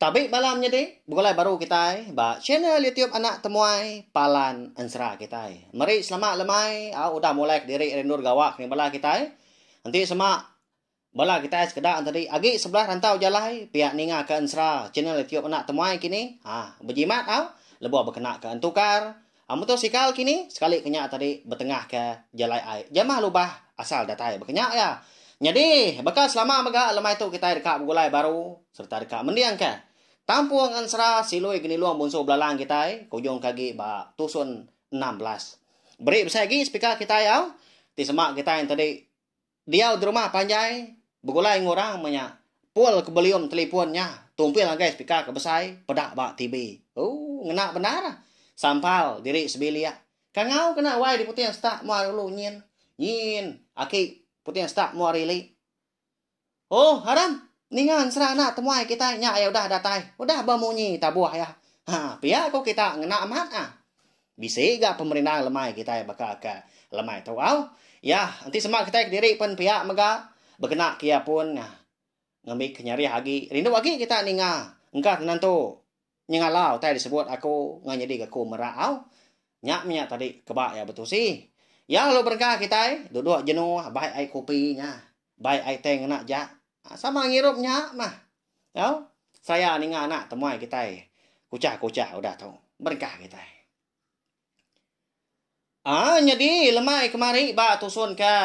Tabi bala menyadi begulai baru kitai ba channel YouTube Anak Temuai Palan Ensera kitai. Meri selamat lemai a udah mulai kediri rindu regawa kena bala kitai. Enti sema bala kitai sekeda entadi agi sebelah rantau jalai pia ninga ke ensera channel YouTube Anak Temuai kini ha bejimat au lebuh bekenaka entukar Muto sikal kini sekali ke nya tadi betengahka jalai ai jamah lubah asal datai baka nya iya. Nyadi, baka selama mega lemai tu kitai deka begulai baru sereta deka mendingka Tampung Ensera Silui Genilong Bunsu Belalang kitai ke ujungka agi ba Tusun enam belas. Beri besai agi spika kitai au ti sema kitai enti di Diau di rumah panjai begulai enggau orang menya pul ke belium telipon nya tumpil ngagai speaker ke besai peda ba TV. Ooh ngena bendar. Sampal diri sebilik. Kangau kena wai diputing stak mua ari ulu nyin. Nyin aki puting stak mua ari ili. Ooh Aram ninga ensera anak temuai kitai nya iya udah datai. Udah bemunyi tabuh iya. Haa pia ku kita ngena amat ah. Bisi ga pemerindang lemai kitai baka ke lemai tu au. Iya, enti sema kitai kediri pen pia mega bekena ke iya pun ngambika nyarih agi. Rindu agi kita ninga engka ke nentu nyengala utai disebut aku enggau nyadi ke aku mera au. Nya menya tadi keba iya betusi. Iya lalu berengkah kitai duduk jenuh bai ai kopi nya. Bai ai tang ngena ja. Sama ngirup nya mah. Au. Seraya ninga anak temuai kitai. Kuchah kuchah udah tu. Berengkah kitai. Ah nyadi lemai kemari ba tusun ke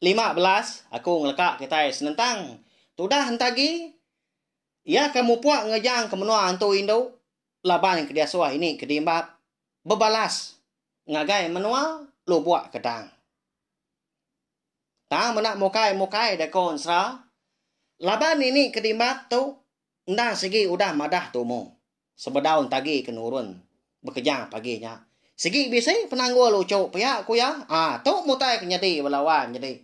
lima belas aku ngeleka kitai senentang tudah enta agi iya ke mupuk ngejang ke menua antu indu laban ke diasuh ini ke dimbap bebalas ngagai menua lubuk kedang. Tang meda mukai-mukai deh ko ensera. Laban nini ke dimat tu enda sigi udah madah tumu. Sebedau entagi ke nurun bekeja pagi nya. Sigi bisi penanggul uchu pia ku iya. Ah tu mutai ke nyadi bala wan nyadi.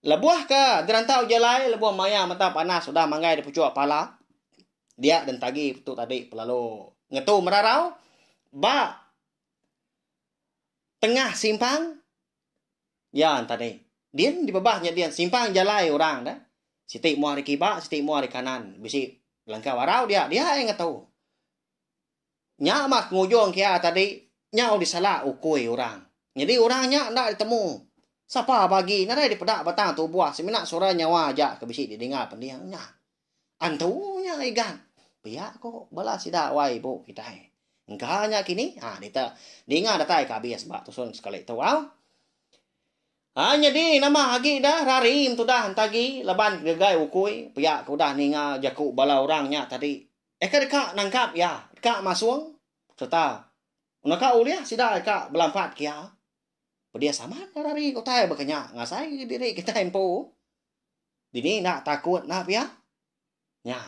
Lebuh ke gerantau jalai lebuh maya mata panas udah manggai dipuchuk pala dia den tagi tu tadi pelalu ngetu merarau ba tengah simpang. Dian tadi. Din di bebah nya din simpang jalai orang dah. Siti mua di kiba, siti mua di kanan. Bisi langkah barau dia, dia ai ngetu. Nya mah pengujung kia tadi nyau disalak ukui orang. Nyadi orang nya enda ditemu. Sapa bagi nadai dipeda batang tubuh semina suara nyawa aja ke bisi didinga pending nya. Antu nya Igan. Pia ko bala sida wai ibu kitai. Engka nya kini. Ha dita ninga datai ka abis ba tusun sekali tu au. Ha nyadi nama agi dah rari mentudah entagi laban gegai ukui pia ko dah ninga jaku bala orang nya tadi. Eka deka nangkap iya, deka masung serta naka ulih sida eka belampat ke iya. Pedis amat rari utai baka nya ngasai diri kitai empu. Dini enda takut enda pia? Nya.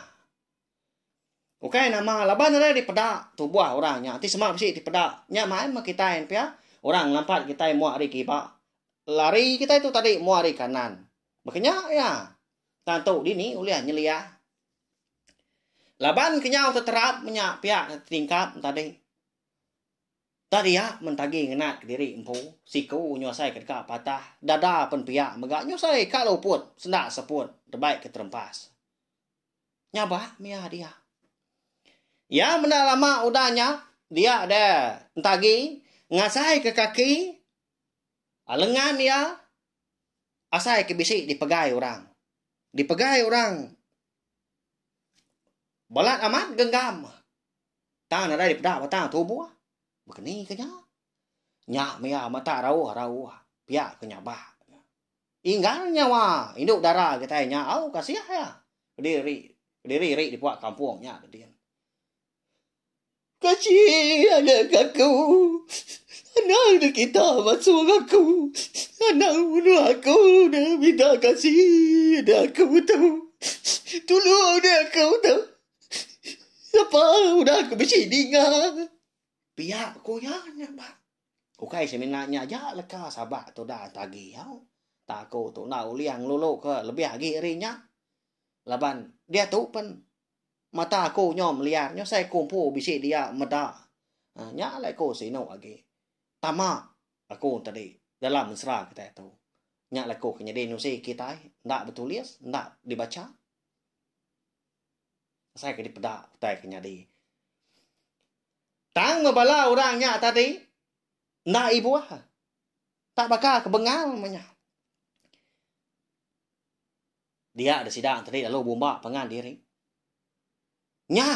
Ukai nama laban ari dipeda tubuh orang nya ti sema bisi dipeda. Nya mai meh kitai ne pia. Orang ngelampat kitai mua ari kiba. Lari kitai tu tadi mua ari kanan. Baka nya iya. Tang tu dini ulih nyeliah. Laban kenyau teterap menya pia tingkap tadi. Tadi iya mentagi ngena kediri empu, siku nyusai ke deka patah, dada pen pia mega nyusai ka luput senda seput debai ke terempas. Nyabak mia dia. Iya menda lama udah nya dia de entagi ngasai ke kaki lengan iya asai ke bisi dipegai orang. Dipegai orang balat amat genggam. Tang nadai dipeda batang tubuh. Baka ni ke nya? Nya maya mata rauh-rauh pia ke nyabak. Inggar nyawa indu dara kitai nya au kasih iya. Kediri kediri ri dipuak kampung nya ke din. Kecil anak aku. Anang da kita masung aku. Anang munu aku da minta kasih da aku tu. Tulung da aku tu. Sapa udah aku bisi ninga. Pia ku iya nya ba. Ukai semina nya aja leka Sabak tu da enta agi au. Tak aku tu enda ulih ngelulu ke lebih agi ari nya. Laban diatu pen mata aku nyom liar nyu sai ku empu bisi dia meda. Ha nya alai ku sinu agi. Tama aku tadi dalam ensera kitai tu. Nya alai ku ke nyadi nusi kitai enda betulis enda dibacha. Asai ke dipeda utai ke nyadi. Tang meh bala orang nya tadi enda ibuh. Tak baka ke bengal meh nya. Dia deh sida tadi lalu bumba pangan diri. Nya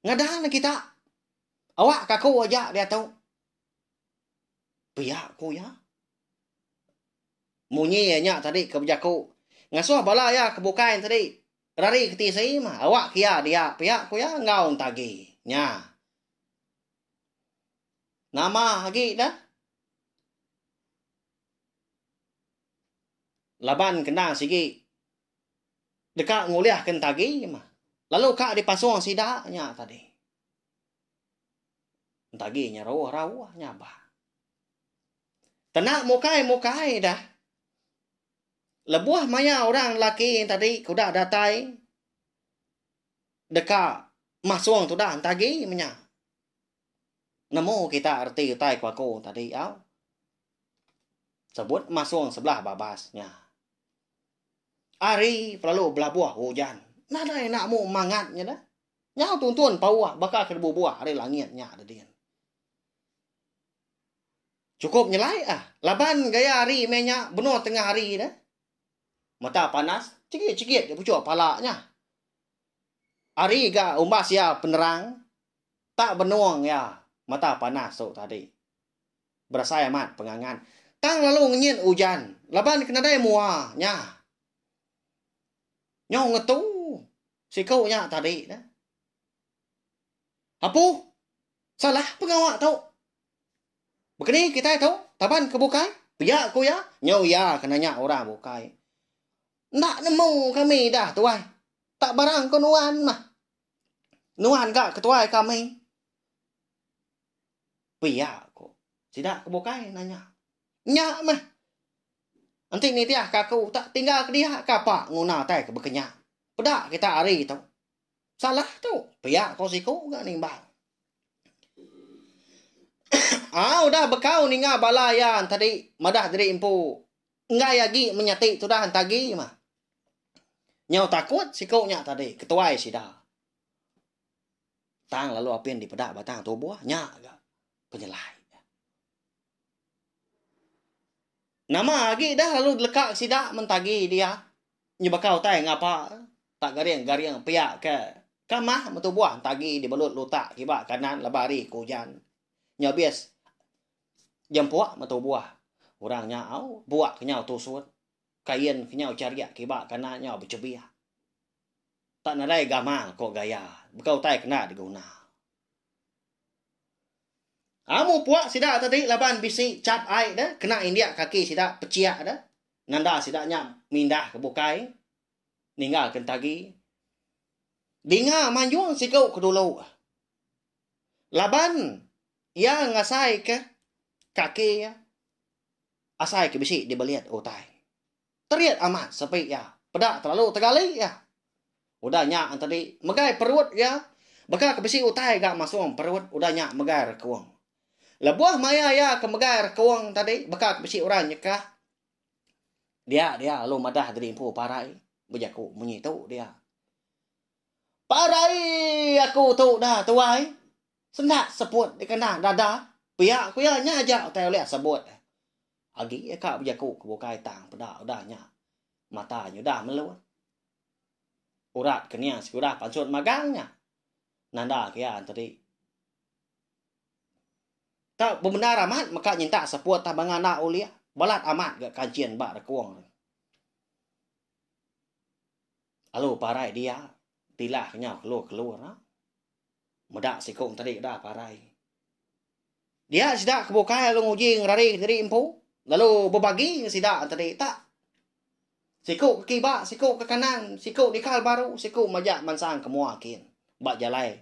ngadan neh kita. Awak ke aku aja diatu. Pia ku iya. Munyi iya nya tadi ke bejaku ngasuh bala iya ke bukai tadi Kedari ke tisi mah awak ke iya dia pia ku iya enggau entagi nya. Nama agi da? Laban kena sigi deka ngulih ke entagi mah lalu ka dipasung sida nya tadi. Entagi nya rauh rauh nya bah. Tena mukai mukai da. lebuh maya orang lelaki tadi ke udah datai deka masung tu dah entah agi menya. Nemu kita reti utai ku aku tadi au. Sebut masung sebelah babas nya. Ari pelalu belabuh ujan. Nadai nak mu mangat nya dah. Nyau tuntun pauh baka ke bubuh ari langit nya tadi. Chukup nyelai ah. Laban gaya hari meh nya benor tengah hari dah. Mata panas, chegit-chegit ke puchuk pala nya. Hari ga umbas iya penerang, tak benong iya mata panas tu tadi. Berasai amat pengangan. Tang lalu ngenyit ujan laban ke nadai mua nya. Nyau ngetu siku nya tadi dah. Apuh, salah pengawa tu. Begeni kitai tu, taban ke bukai, pia ku iya, nyau iya ke nanya orang bukai. Enda nemu kami dah tuai. Tak barang ku nuan mah. Nuan ga ketuai kami. Pia ku. Sida ke bukai nanya. Nya mah. Enti nitih ka aku tak tinggal ke dia ka apa nguna tai ke bekenya. Peda kita hari tu. Salah tu. Pia ko siku ga nimbang. Au dah bekau ninga bala iya tadi madah diri empu. Enggai agi menyati tudah entagi mah. Nyau takut siku nya tadi ketuai sida. Tang lalu apin dipeda batang tubuh nya ga penyelai. Nama agi dah lalu leka ke sida mentagi dia nyebaka utai ngapa tak garing-garing pia ke ke mah betubuh entagi dibelut lutak kiba kanan laba hari ke ujan nya abis jempuk betubuh orang nya au buak ke nyau tusut kain ke nyau charik kiba kanan nyau bechebik tak nadai gamal ko gaya baka utai kena diguna. Amu puak sida tadi laban bisi chap ai deh kena indik kaki sida pechiak deh nanda sida nya mindah ke bukai ninggal ke entagi. Dinga manjung siku ke dulu laban iya ngasai ke kaki iya asai ke bisi dibelit utai. Terit amat sepi iya. Peda telalu tegali iya. Udah nya entedi megai perut iya baka ke bisi utai ga masung perut udah nya megai rekung. Lebuh maya iya ke megai rekung tadi baka ke bisi orang nyekah dia dia lalu madah diri empu parai bejaku munyi tu dia. Parai aku tu dah tuai. Senda seput dikena dada. Pia ku iya nya aja utai ulih sebut. Agi iya ka bejaku ke bukai tang peda udah nya mata nyudah melun. Urat kening sekudah pansut magang nya nanda ke iya enteri. Tau bebendar amat meka nyintak seput tang banga enda ulih balat amat ga kanchin ba rekung ri. Alu parai dia tilah kenyau keluh-keluh ra. Meda sikung tadi udah parai. Dia sida ke bukai lalu nguji ngerari diri empu lalu bebagi ngan sida tadi tak. Siku ke kiba, siku ke kanan, siku dikal baru, siku majak mansang ke mua kin. Ba jalai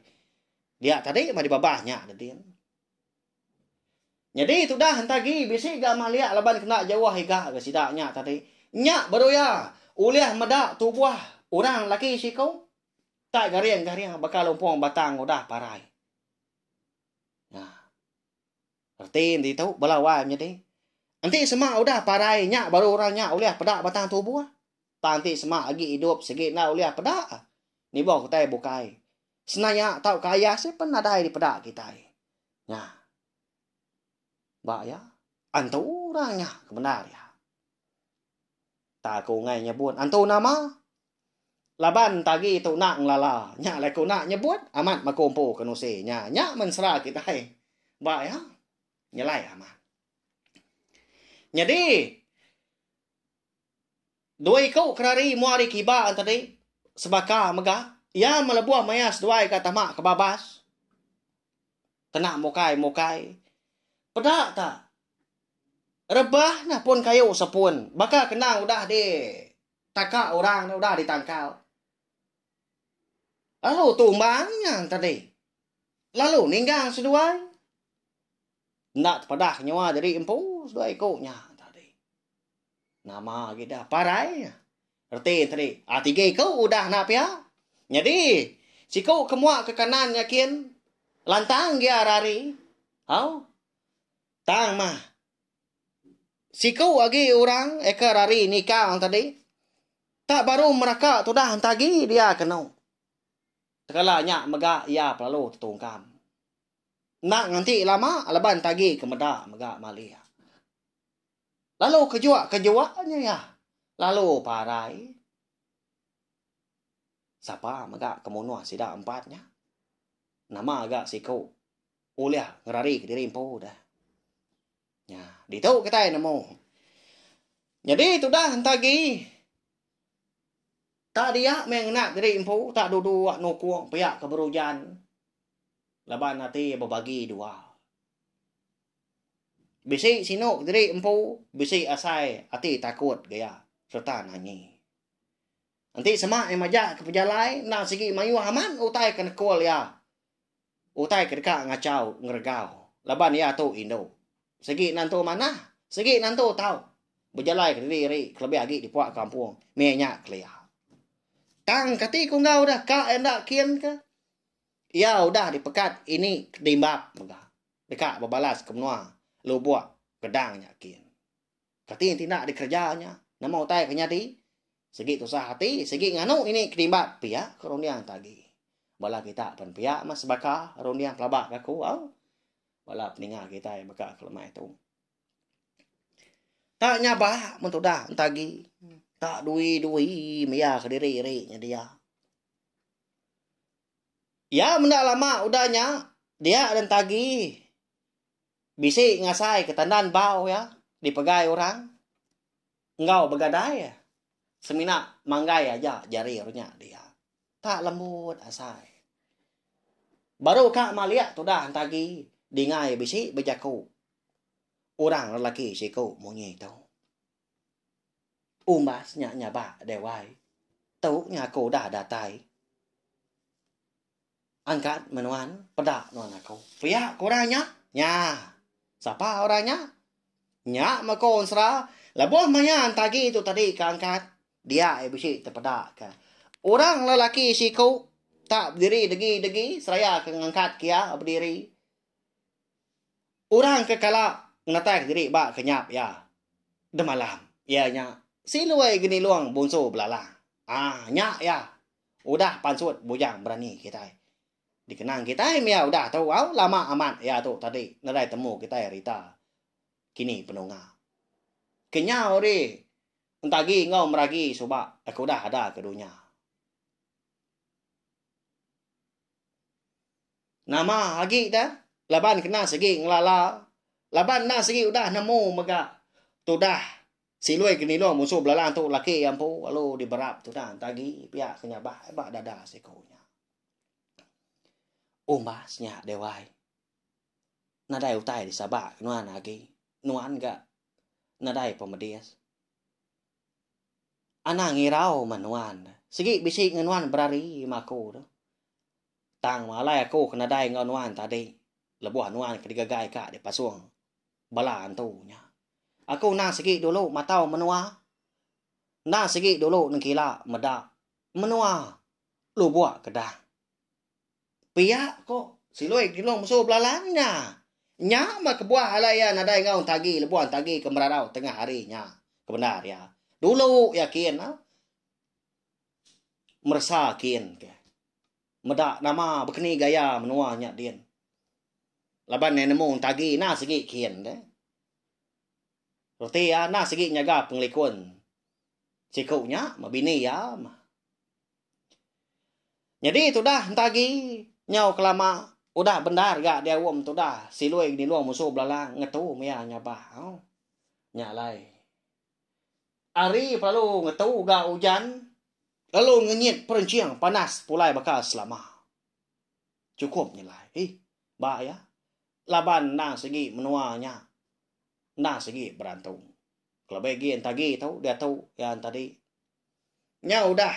dia tadi mah dibabah nya dedin. Nyadi tudah entah gi bisi ga maliak laban kena jauh iga ga sida nya tadi. Nya baru iya ulih meda tubuh orang laki sikung. Ka garing ka nya baka lumpung batang udah parai. Nya. Reti enti tu bala wai menyadi. Enti sema udah parai nya baru orang nya ulih peda batang tubuh. Tang enti sema agi idup sigi enda ulih peda. Nibuh utai bukai. Senaya tauka ayah seh pen nadai dipeda kitai. Nya. Ba iya. Antu orang nya ke bendar iya. Ta ku Ungay nyebut, Antu nama? Laban tagi tu nak ngelala. Nya alai ku nak nyebut, amat maku empu ke nusi nya. Nya mensera kitai. Ba iya, nyelai amat. Nyadi, dua iku kenari mua ari kiba tadi, sebaka mega, iya melebuh maya seduai ga tama ke babas, kena mukai-mukai. Peda ta. Rebah nah pun kayu sepun. Baka kenang udah di taka orang nya udah di tangkal. Lalu tumbang nya tadi. Lalu ninggang seduai. Enda tepadah nyua jadi empu seduai ku nya tadi. Nama agi dah parai nya. Reti tadi. Ah tiga ku udah na pia. Nyadi siku ke mua ke kanan nya kin lantang gia rari. Au. Tang mah. Siku agi orang eka rari nikang tadi. Tak baru meraka tudah enta agi dia kenu. Tekala nya mega iya pelalu tetungkam. Enda nganti lama laban enta agi ke meda mega malik. Lalu kejua kejua nya iya. Lalu parai. Sapa mega ke munuh sida empat nya. Nama ga siku Ulih ngerari ke diri empu dah. Nya, ditu kitai nemu. Nyadi tudah entah agi tak dia meh ngena diri empu, tak duduk nukung pia ke berujan laban ati bebagi dua. Bisi sinu ke diri empu, bisi asai ati takut gaya sereta nangi. Enti sema iya majak ke pejalai enda sigi mayuh amat utai ke nekul iya. Utai ke deka ngachau ngeregau laban iya tu indu. Sigi nentu manah, sigi nentu tau bejalai kediri-iri kelebih agi di puak kampung meh nya kelia. Tang kati ku enggau deh ka enda kin ke iya udah dipekat ini kedimbap mega deka bebalas ke menua lubok gedang nya kin. Kati ti enda dikereja nya? Nama utai ke nyadi? Sigi tusah ati, sigi nganu ini ke dimbat pia ke runding ti agi. Bala kita pen pia meh sebaka runding pelaba ke aku au. Bala peninga kitai baka ke lemai tu. Tak nyaba men tudah enti agi. Tak dui-dui maya ke diri iri nyedia. Ya menda lama udah nya dia enti agi. bisi ngasai ke tandan bau iya dipegai orang enggau begadai semina manggai aja jari orang nya dia tak lembut asai baru ka malik tudah entagi dingai bisi bejaku orang lelaki siku munyi tu umbas nya nyabak deh wai tu nya aku udah datai. Angkat meh nuan, peda nuan aku. Pia ke orang nya? Nya. Sapa orang nya? Nya meh ko ensera lebuh maya entagi tu tadi ke angkat, dia iya bisi tepeda ke orang lelaki siku tak bediri degi-degi seraya ke ngangkat ke iya bediri. Orang ke kala ngenatai diri ba kenyap iya demalam iya nya si Lui Genilong Bunsu Belalang. Ah, nya iya. Udah pansut bujang berani kitai. Dikenang kitai mia udah tu au lama amat iya tu tadi nedai temu kitai rita kini penunga. Kenyau ri entagi enggau meragi suba ke udah ada ke dunya. Nama agi da laban kena sigi ngelala laban enda sigi udah nemu mega tudah Silui ke nilung musuh belalang tu laki iya empu lalu diberap tuna enti agi pia ke nyabak iya ba dada siku nya. Umbas nya Dewai. Nadai utai disabak ke nuan agi. Nuan ga nadai pemedis. Anang ngirau meh nuan. Sigi bisi ngan nuan berari meh aku tu. Tang meh alai aku ke nadai enggau nuan tadi. Lebuh nuan ke digagai ka dipasung. Bala antu nya. Aku enda sigi dulu matau menua. Enda sigi dulu nengkila meda menua lubok kedang. Pia ko Siloi Kinong Mesu belalang nya. Nya meh kebuah alai iya nadai enggau entagi lebuh entagi ke merarau tengah hari nya. Kebendar iya. Dulu iya kin. Meresa kin. Meda nama bekeni gaya menua nya din. Laban iya nemu entagi enda sigi kin deh. Reti iya enda sigi nyaga pengelikun siku nya meh bini iya meh. Nyadi tudah entagi nyau kelama udah bendar ga diaum tudah silui nginulung musu belalang ngetu meh iya nyabak. Au. Nya alai. Ari pelalu ngetu ga ujan lalu ngenyit perenching panas pulai baka selama. Chukup nyelai ih ba iya laban enda sigi menua nya enda sigi berantung. Kelebih agi enti agi tu diatu yang tadi nya udah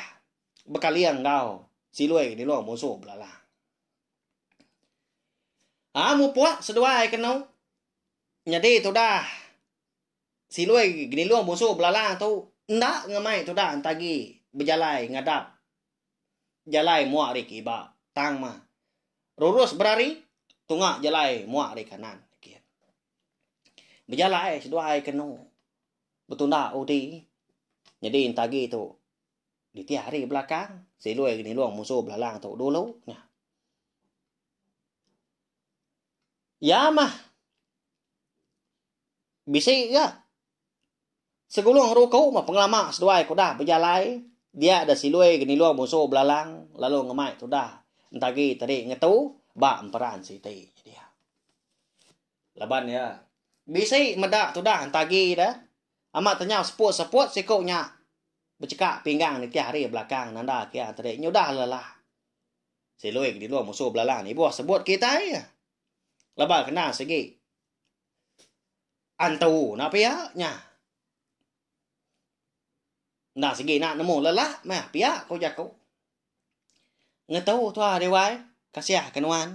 bekaling enggau siloi nyelong musu belalang. Aa mupuk seduai kenu nyadi tudah. Silui genilung busu belala tu enda ngemai tuda entagi bejalai ngadap jalai mua ari ke iba tang mah rurus berari tunga jalai mua ari kanan. Bejalai seduai kenu betunda udi nyadi entagi tu ditih ari belakang silui genilung busu belala tu dulu nya. Iya mah. Bisi ga. Segulung ruku meh pengelama seduai ke udah bejalai dia deh silui genilung musu belalang lalu ngemai tudah entagi tadi ngetu ba emperan siti dia. Laban iya bisi meda tudah entagi deh amat tenyau seput-seput siku nya becheka pinggang nitih hari belakang nanda ke iya tadi nyudah lelah silui genilung musu belalang ibuh sebut kitai. Laban kena sigi. Antu na pia nya. Enda sigi na nemu lelak meh pia ko jaku. Ngetu tua Dewan kasiah ke nuan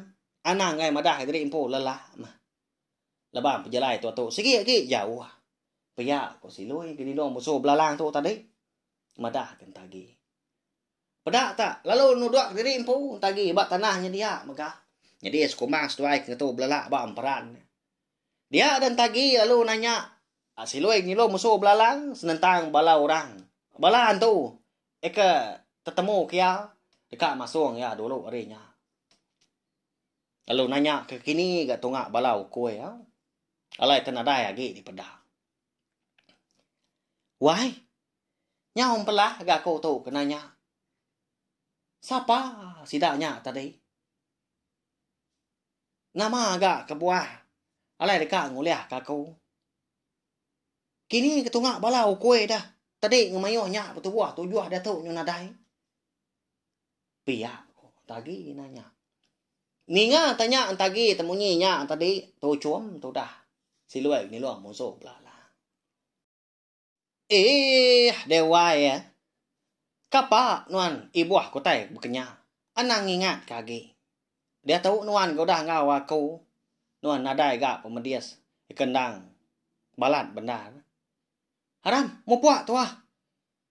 anang angai madah diri empu lelak meh. Lebang pejalai tua tu sigi agi jauh. Pia ko Siloi ke didong musuh belalang tu tadi. Madah ke enta agi. Peda ta lalu nudok diri empu entah agi ba tanah nya dia mega. Nyadi sekumbang seduai ke ngetu belala ba emperan. Dia ada entah agi lalu nanya Silui ngilu mesu belalang senentang bala orang. Bala antu eka tetemu ke iya deka masung iya dulu ari nya. Lalu nanya ke kini ga tunga bala ukui au. Alai te nadai agi dipeda. Wai, nyau empelah ga aku tu kena nya. Sapa sida nya tadi? Nama ga kebuah alai deka ngulih ke aku? Kini ke tunga bala ukui deh, tadi ngemayuh nya betubuh tujuh diatu nyau nadai. Pia ko Tagi nanya. Ninga tanya Tagi temunyi nya tadi tu chum tu dah. Siloi nilung musuh bela lah. Eh, dewai ya. Kapa nuan ibuh kutai bekenya? Anang ingat ka agi. Dia tu nuan ke udah enggau aku. Nuan nadai ga pemedis kendang balat bendar. Aram, mupuk tuah.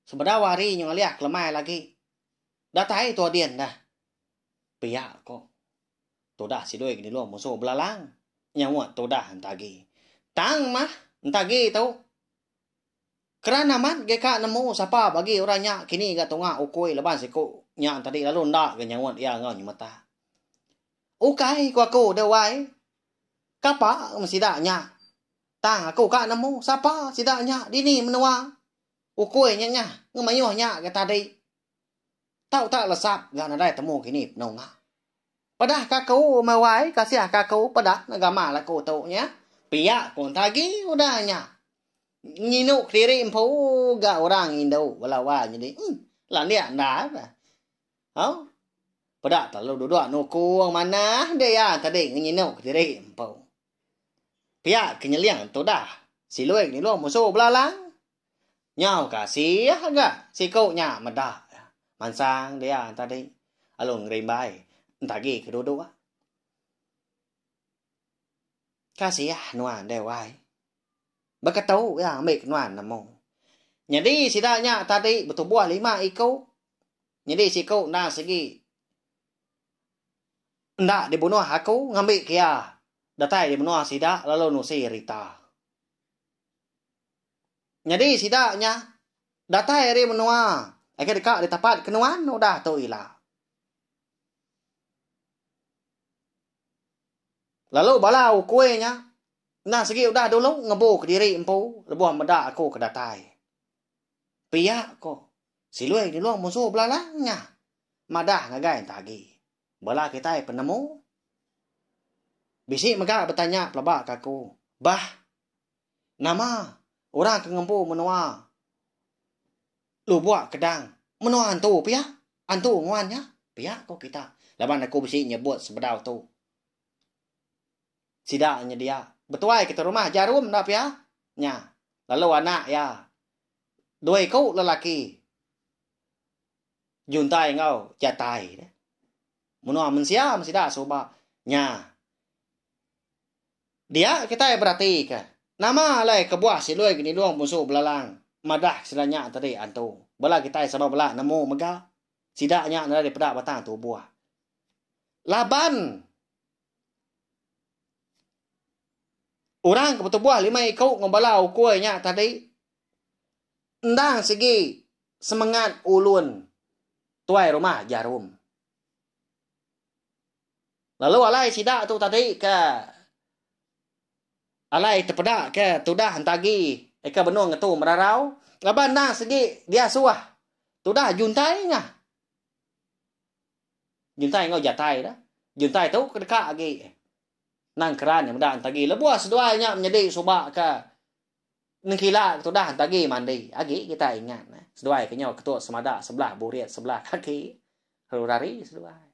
Sebedau hari nyu ngalih kelemai lagi. Datai tua din dah. Pia ko. Tudah sidui ke dilu musu belalang. Nyawa tudah enta agi. Tang mah enta agi tu. Keran amat ge ka nemu sapa bagi orang nya kini ga tunga ukui leban siku nya tadi lalu enda ga nyaut iya enggau nyemeta. Ukai ku aku deh wai. Kapa meh sida nya. Tang aku ka nemu sapa sida nya dini menua. Ukui nya nyah ngemayuh nya ga tadi. Tau tak lesap ga nadai temu kini penuh nga. Pedah ka aku umai wai kasih ka aku pedah nega gamal aku tu nya. Pia ku enta agi udah nya. Nginu kediri empu ga orang indu bala wai nyadi emm landik enda pah. Au. Peda telalu duduk nuku manah dia iya tadi nginu kediri empu. Pia ke nyeling tu dah. Silui ke nyelung musu belalang. Nyau ke asih ga siku nya meda mansang dia tadi lalu ngerimbai enti agi ke duduk. Kasih nuan deh wai. Beketu iya ambi ke nuan nemu. Nyadi sida nya tadi betubuh lima iku. Nyadi siku endang sigi. Enda dibunuh aku ngambi ke iya datai di menua sida lalu nusi rita. Nyadi sida nya datai ari menua agi deka ditapat ke nuan udah tu ila. Lalu bala ukui nya enda sigi udah dulu ngebu kediri empu lebuh meda aku ke datai. Pia ko Silui nulung musu belalang nya. Madah ngagai entah agi. Bala kitai penemu. Bisi mega betanya pelaba ke aku. Bah. Nama orang ke ngempu menua lubok kedang menua antu pia? Antu nguan nya? Pia ko kita. Laban aku bisi nyebut sebedau tu. Sida nyedia betuai ke terumah jarum enda pia nya lalu anak iya dua iku lelaki Juntai enggau Jatai nya. Menua mensia mesti sida suba nya. Dia kitai beratika nama alai kebuah Silui Genilong Punsu Belalang madah sida nya tadi antu. Bala kitai sama bela nemu mega sida nya nadai dipeda batang tubuh. Laban. Orang ke betubuh lima iku enggau bala ukui nya tadi endang sigi semengat ulun tuai rumah Jarum. Lalu alai sida tu tadi ke alai tepeda ke tudah entagi ke benung ngetu merarau laban endang sigi diasuh tudah juntai nya. Juntai enggau Jatai dah. Juntai tu ke deka agi nang keran iya meda entagi lebuh seduai nya menyedi suba ke nengkila ke tudah entagi mandi agi kita ingat neh seduai ke nyau ketut semada sebelah burit sebelah kaki lalu rari seduai.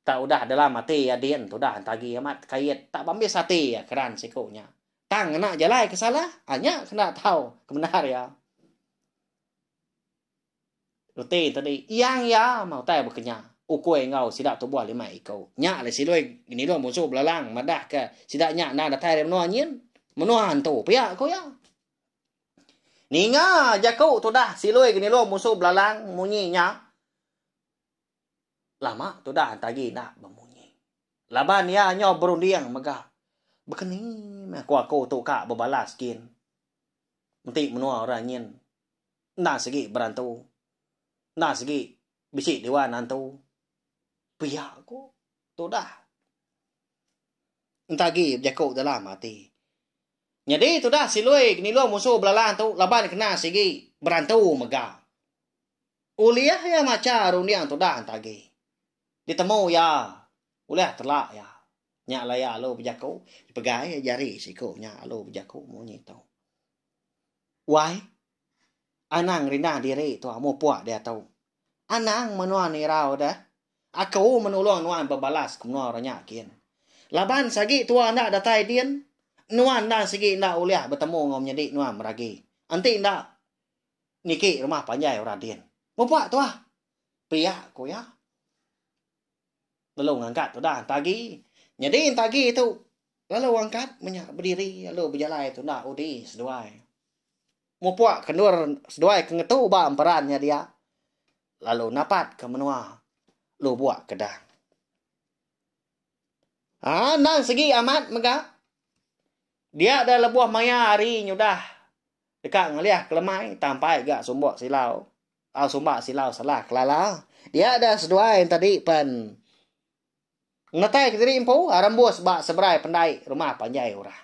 Tak udah dalam ati iya din tudah entagi amat kait tak bambis ati iya keran siku nya. Tang ngena jalai ke salah, nya ke enda tau ke bendar iya. Reti tadi iyang iya mah utai bekenya ukui enggau sida tubuh lima iku. Nya alai Silui nginilung munsu belalang madahka sida nya endang datai ari menua nyin, menua antu pia ku iya. Ninga jaku tudah Silui nginilung munsu belalang munyi nya, lama tudah Antagi enda bemunyi. Laban iya nyau berunding mega, Bekeni meh aku-aku tu ka bebalas gin. Enti menua orang nyin Enda sigi berantu. Enda sigi bisi diwa nantu. Pia ku tudah. Enta agi bejaku dalam ati. Nyadi tudah Silui nilung musuh belalang tu laban kena sigi berantu mega. Ulih iya macha runding tudah enta agi. Ditemu iya ulih telak iya. Nya alai iya alu bejaku. Dipegai jari siku nya alu bejaku munyi tu. Wai Anang rindah diri tu mupuk diatu. Anang menua nirau deh. Aku menulung nuan bebalas ke menua orang nya kin. Laban sagi tua enda datai din, nuan endang sigi enda ulih betemu enggau menyedi nuan meragi. Enti enda niki rumah panjai orang din. Mupuk tuah, pia ku iya. lalu ngangkat tudah entagi nyadi entagi tu lalu angkat menya bediri lalu bejalai tudah udi seduai mupuk ke endur seduai ke ngetu ba emperan nya dia lalu napat ke menua lubok kedah aa nang segi amat mega dia da lebuh maya hari nyudah deka ngelih kelemai tampai ga sumbok silau Tau sumak silau salah kelala. Dia da seduai enta di pen ngetai ke diri empu arembus ba seberai pendai rumah panjai orang.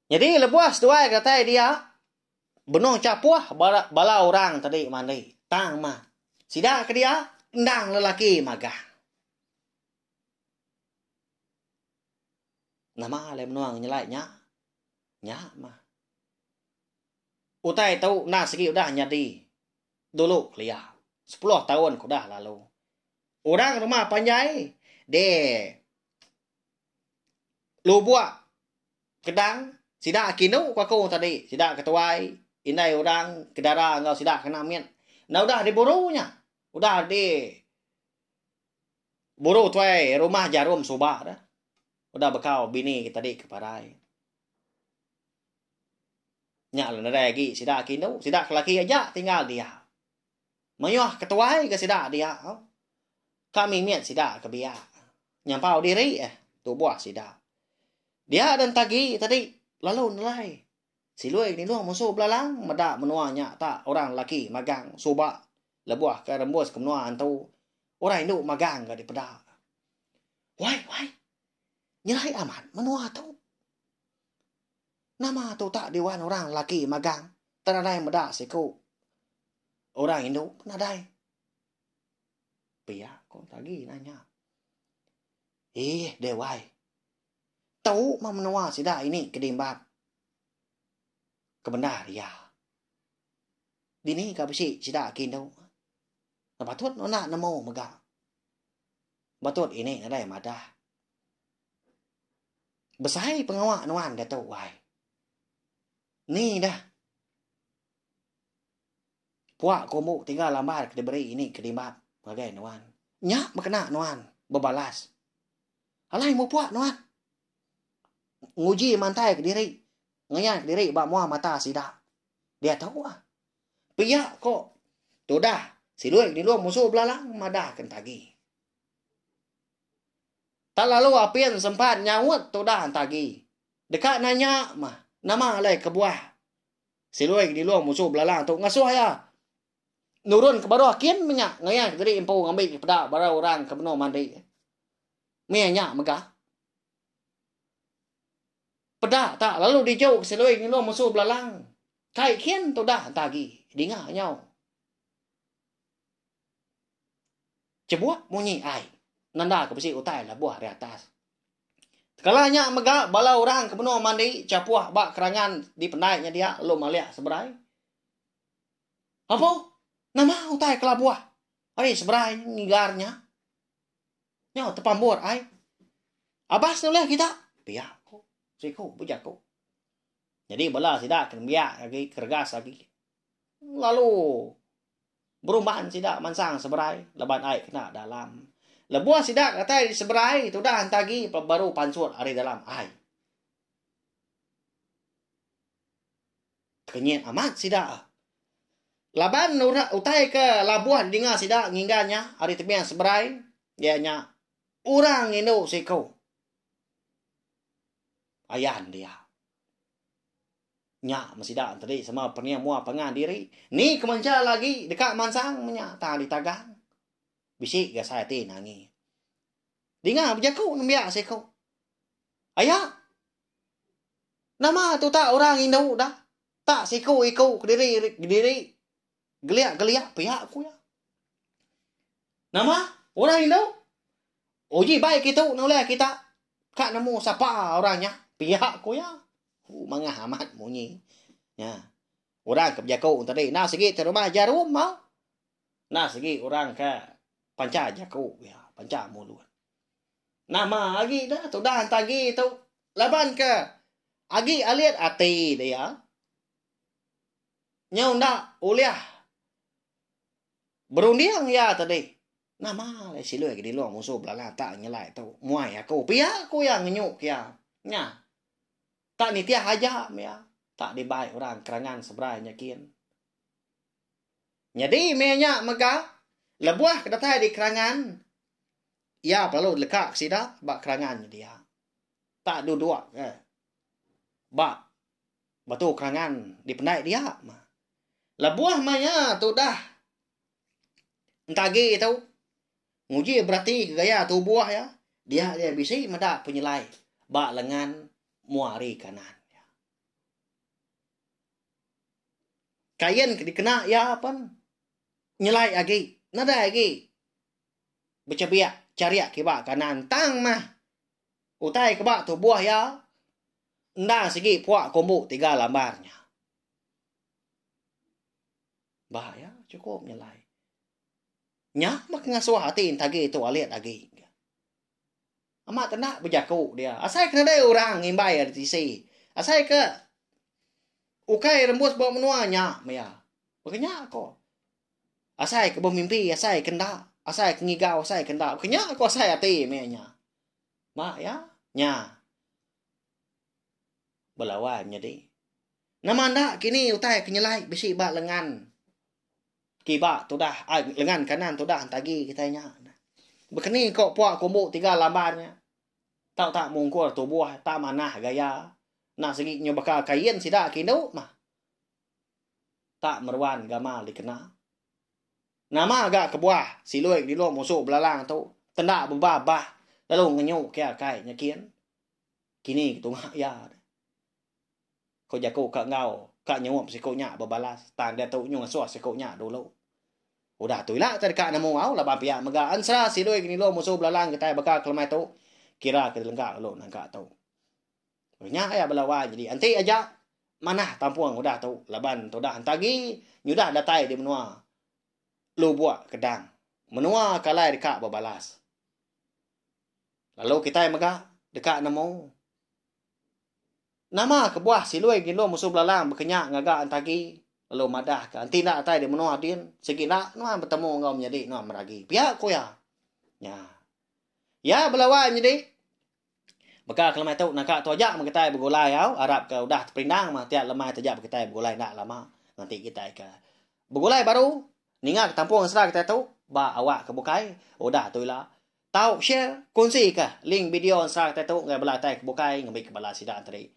Nyadi lebuh seduai ke datai dia benung chapuh bala orang tadi mandi tang mah sida ke dia endang lelaki magang. Nama alai menua nyelai nya? Nya mah. Utai tu enda sigi udah nyadi dulu kelia, sepuluh taun ke udah lalu. Orang rumah panjai di Lubok Kedang sida agi indu ku aku tadi, sida ke tuai, indai orang, kedara enggau sida ke anak mit enda udah diburu nya. Udah di buru tuai rumah jarum suba deh. Udah bekau bini tadi ke parai. Nya la nedai agi sida ke indu, sida ke laki aja tinggal dia. Mayuh ke tuai ga sida dia. Ka mimit sida ke biak nyampau diri eh tubuh sida. Dia den tagi tadi lalu nelai silui nilung musu belalang meda menua nya ta orang laki magang suba lebuh ke rembus ke menua antu orang indu magang ga dipeda. Wai wai. Nyelai amat menua tu. Nama tu utak diwan orang lelaki magang tang nadai meda siku orang indu pun nadai. Pia ko tagi nanya. Ih, dewai. Tu mah menua sida ini ke dimbap. Kebendar iya. Dini ka besi sida ke indu. Patut nuna nemu mega. Patut ini nadai madah. Besai pengawa nuan diatu wai. Ni dah. Puak ke umbu tiga lambar ke diberi ini ke dimbap ngagai nuan. Nya bekena nuan bebalas. Alai mupuak nuan. Nguji mantai ke diri. Ngayan ke diri ba mua mata sida. Diatu ah. Pia ko tudah siloi ke dilu musuh belalang madah ke entagi. Tak lalu apin sempat nyaut tudah enta agi. Deka nanya mah, nama alai kebuah Silui Genilong musuh belalang tu ngasuh iya nurun ke baruh kin menya ngayanka diri empu ngambi peda barang orang ke benung mandi. Meh nya mega. Peda tak lalu diju Silui Genilong musuh belalang. Kai kin tudah enta agi. Dinga nyau. Chebuk munyi ai nanda ke besi utai lebuh ari atas. Tekala nya mega bala orang ke menua mandi chapuh ba kerangan dipendai nya dia lalu malih seberai. Apo? Nama utai kelabuh ari seberai ngigar nya? Nyau tepambur ai. Abas nulih kita, pia ku siku bejaku. Nyadi bala sida ke nembiak agi keregas agi lalu berumban sida mansang seberai laban ai kena dalam. Lebuh sida datai di seberai tudah enti agi baru pansut ari dalam ai. Kenyit amat sida. Laban urak utai ke labuh dinga sida nginggan nya ari tebing seberai iya nya orang indu siko. Ayan dia. Nya meh sida enteri sama pening mua pangan diri. Ni kemencha lagi deka mansang meh nya tang ditagang. Bisi ga sai ati nangi. Dinga bejaku nembiak siko. Aya. Nama tuta orang indu dah. Tak siko-iko kediri-kediri. Geliak-geliak pia ku iya. Nama orang indu? Uji bai kitu nulai kita ka nemu sapa orang nya pia ku iya. Hu mangah amat munyi. Nya. Orang ke bejaku tadi enda sigi ti rumah jarum mau. Enda sigi orang ke pancha jaku iya, pancha mulut. Nama agi da tudah enta agi tu laban ke agi alit ati dia. nyau enda ulih berunding iya te dih. Nama alai siloi ke dilong musuh belala tak nyelai tu. Muai aku. Pia ku iya ngenyu ke iya. Nya. Tak nitih aja me iya. Tak dibai orang kerangan seberai nya kin. Nyadi me nya mega lebuh ke datai di kerangan iya perlu leka ke sida ba kerangan nya dia. Tak duduk ke ba Batu kerangan dipendai dia. Lebuh maya tudah entagi tu nguji berati ke gaya tubuh iya, dia iya bisi meda penyelai ba lengan mua ari kanan. Kain ke dikena iya pen nyelai agi nadai agi bechebiak charik kiba kanan tang mah Utai ke ba tubuh iya, enda sigi puak kumbu tiga lambar nya. Ba iya chukup nyelai. Nya meh ke ngasuh ati entagi tu alit agi. Amat tenda bejaku dia. Asai ke nadai orang ngimbai ari tisi. Asai ke ukai rembus ba menua nya meh iya. Baka nya ko. Asai ke bemimpi, asai ke enda. Asai ke ngigau, asai ke enda. Kenya aku asai ati meh nya. Ba ya? Nya. Belawan nyadi. Nama enda kini utai ke nyelai bisi ba lengan kiba tudah ai lengan kanan tudah entagi kitai nya. Bekeni ko puak kumbu tiga lamban nya. Tau tak mungkur tubuh, tak manah gaya. Enda sigi nyu baka kain sida ke indu mah. Tak meruan gamal dikena. Nama ga kebuah siloi ke dilu musu belalang tu tenda bebah bah lalu ngenyu ke akai nya kin. Kini ke tunga iya. Ko jaku ka enggau ka nyup siku nya bebalas tang diatu nyu ngasuh siku nya dulu. Udah tu ila te deka nemu au laban pia mega ensera siloi ke nilu musu belalang kitai baka kelemai tu kira ke dilengka lalu nangka tu. Lalu nya aya bala wan nyadi enti aja manah tampung udah tu laban tudah enta agi nyudah datai di menua Lubok Kedang. Menua ke alai deka bebalas. Lalu kitai mega deka nemu nama kebuah Silui Gindum Musu Belalang bekenya ngaga enta agi lalu madah ke enti enda datai di menua din sigi enda nuan betemu enggau menyadi nuan meragi. Pia ku iya. Nya. Iya bala wan nyadi Baka ke lemai tu naka tu aja begetai begulai au arap ke udah teperindang mah tiap lemai taja begetai begulai enda lama ngenti kitai ke begulai baru ninga ketampung asra kitai tu ba awak ke bukai udah tu ila tau share kongsi ka link video asra kitai tu ngagai bala kitai ke bukai ngambi ke bala sida enti.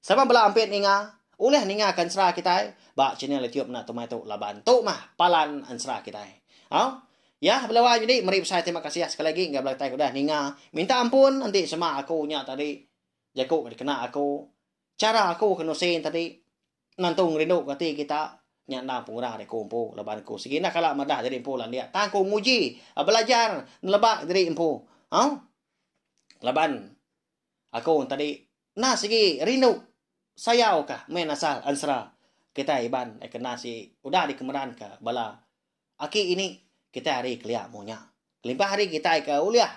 Sama bela ampit ninga. Ulih ninga ke ensera kitai ba channel YouTube enda tumai tu laban tu mah palan ensera kitai. Au. Yah bela wai nyadi meri besai terima kasih sekali lagi enggau bela kitai ke udah ninga. Minta ampun enti sema aku nya tadi jaku ke dikena aku. Chara aku ke nusi nya tadi nentu ngerindu ke ati kita nya endang pengurang ari aku empu laban aku sigi enda kala madah jadi empu landik tang aku nguji belajar neleba diri empu. Au. Laban aku tadi Enda sigi rindu sayau ka meh nasal ensera kitai Iban ai kena si udah dikemeran ka bala aki ini kitai hari kelia mu nya. Kelimpah hari kitai ka ulih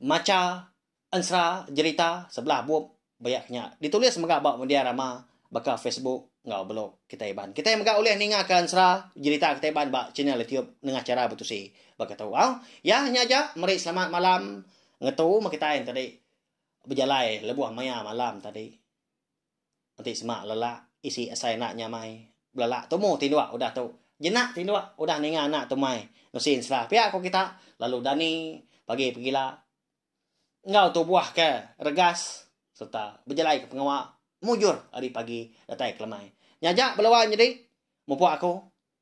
macha ensera jerita sebelah bup bayak nya ditulis mega ba media rama baka Facebook enggau blog kitai Iban. Kitai mega ulih ninga ka ensera jerita kitai Iban ba channel YouTube nengah chara betusi baka tu. Au, iya nya aja meri selamat malam ngetu meh kitai enti tadi. Bejalai lebuh maya malam tadi. Enti sema lelak isi asai anak nyamai. Belelak tumu tinduk udah tu. Jenak tinduk udah ninga anak tu mai. Nusin sera pia ko kita. Lalu dani pagi pegila. Enggau tubuh ke regas serta bejalai ke pengawa mujur ari pagi datai ke lemai. Nyaja belawa nyadi mupuk aku.